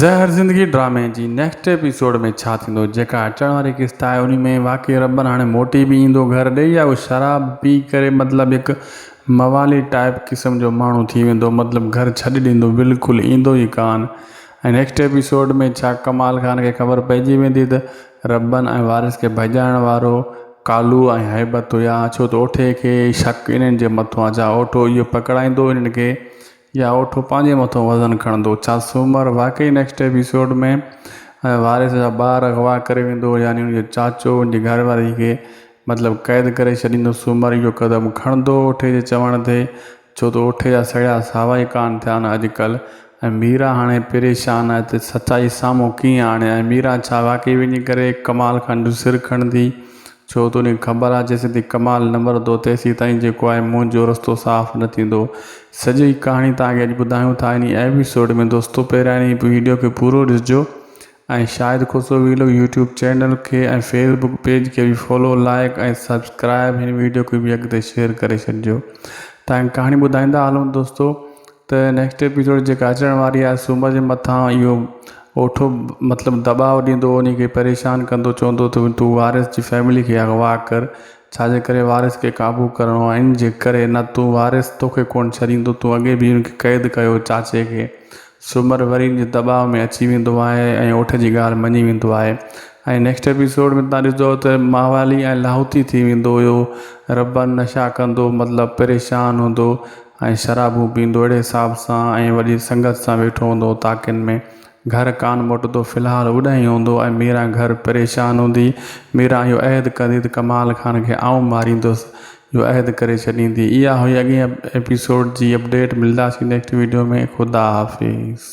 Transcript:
زهر زندگي ڊرامي جي نيڪسٽ ايپيسوڊ ۾ ڇا ٿيندو جيڪا اچڻ واري قسط آهي انهي ۾ واقعي ربن هاڻي موٽي به ايندو گهر ڏي يا اهو شراب پي ڪري مطلب هڪ موالي ٽائپ قسم جو ماڻهو ٿي ويندو مطلب گهر ڇڏي ڏيندو بلڪل ايندو ئي ڪانه ۽ نيڪسٽ ايپيسوڊ ۾ ڇا ڪمال خان کي خبر پئجي ويندي ته ربن ۽ وارث کي ڀڄائڻ وارو ڪالو ۽ هيبت هيا ڇو ته اوٺي کي شڪ انهن جي مٿو آ جا اوٺو اهو پڪڙائيندو انهن کي يا اوٺو پنهنجي مٿو وزن کڻندو ڇا سومر واقعي نيڪسٽ ايپيسوڊ ۾ وارث جا ٻار اغوا ڪري ويندو يعني ان جو چاچو ان جي گهر واري کي مطلب قيد ڪري ڇڏيندو سومر اهو قدم کڻندو اوٺي جي چوڻ تي ڇو ته اوٺي جا سڙيا ساوا ئي ڪانه ٿيا آهن اڄ ڪلهه ۽ ميرا هاڻي پريشان آهي ته سچائي سامهون ڪيئن آڻي ۽ ميرا ڇا واقعي وڃي ڪري ڪمال خان جو سر کڻندي ڇو تون کي خبر آ جيسيتائين ڪمال نه مرندو تيسيتائين جيڪو آهي مون جو رستو صاف نه ٿيندو. سڄي ڪهاڻي توهان کي اڄ ٻڌايون ٿا انهي ايپيسوڊ ۾ دوستو پهريان انهي ويڊيو کي پورو ڏسجو ۽ Shahid Khoso vlog YouTube channel کي ۽ فيس بڪ پيج کي به فالو لائيڪ ۽ سبسڪرائيب هن ويڊيو کي به اڳتي شيئر ڪري ڇڏجو تانڪه ڪهاڻي ٻڌائيندا هلون دوستو ته نيڪسٽ ايپيسوڊ جيڪا اچڻ واري آهي سومر جي مٿان اهو اوٺو مطلب دٻاء ڏيندو ان کي پريشان ڪندو چوندو ته تون وارث جي فيملي کي اغوا ڪر ڇاجي ڪري وارث کي قابو ڪرڻو آهي ان جي ڪري نه تون وارث توکي ڪونه ڇڏيندو تون اڳي به ان کي قيد ڪيو چاچي کي سومر وري ان جي دٻاء ۾ اچي ويندو آهي ۽ اوٺ جي ڳالهه مڃي ويندو آهي ۽ نيڪسٽ ايپيسوڊ ۾ تان ڏسندو ته ماهوالي ۽ لاهوتي ٿي ويندو هيو ربن نشا ڪندو مطلب پريشان هوندو ۽ شرابون پيئندو اهڙي حساب سان ۽ وڏي سنگت سان ويٺو هوندو هو طاقن ۾. گهر ڪانه موٽندو في الحال اوڏانهن ئي هوندو هو ۽ ميران گهر پريشان هوندي. ميران اهو عهد ڪندي ته ڪمال خان کي آئون ماريندس جو عهد ڪري ڇڏيندي. اها هئي اڳئين ايپيسوڊ جي اپڊيٽ ملداسين نيڪسٽ ويڊيو ۾ خدا حافظ.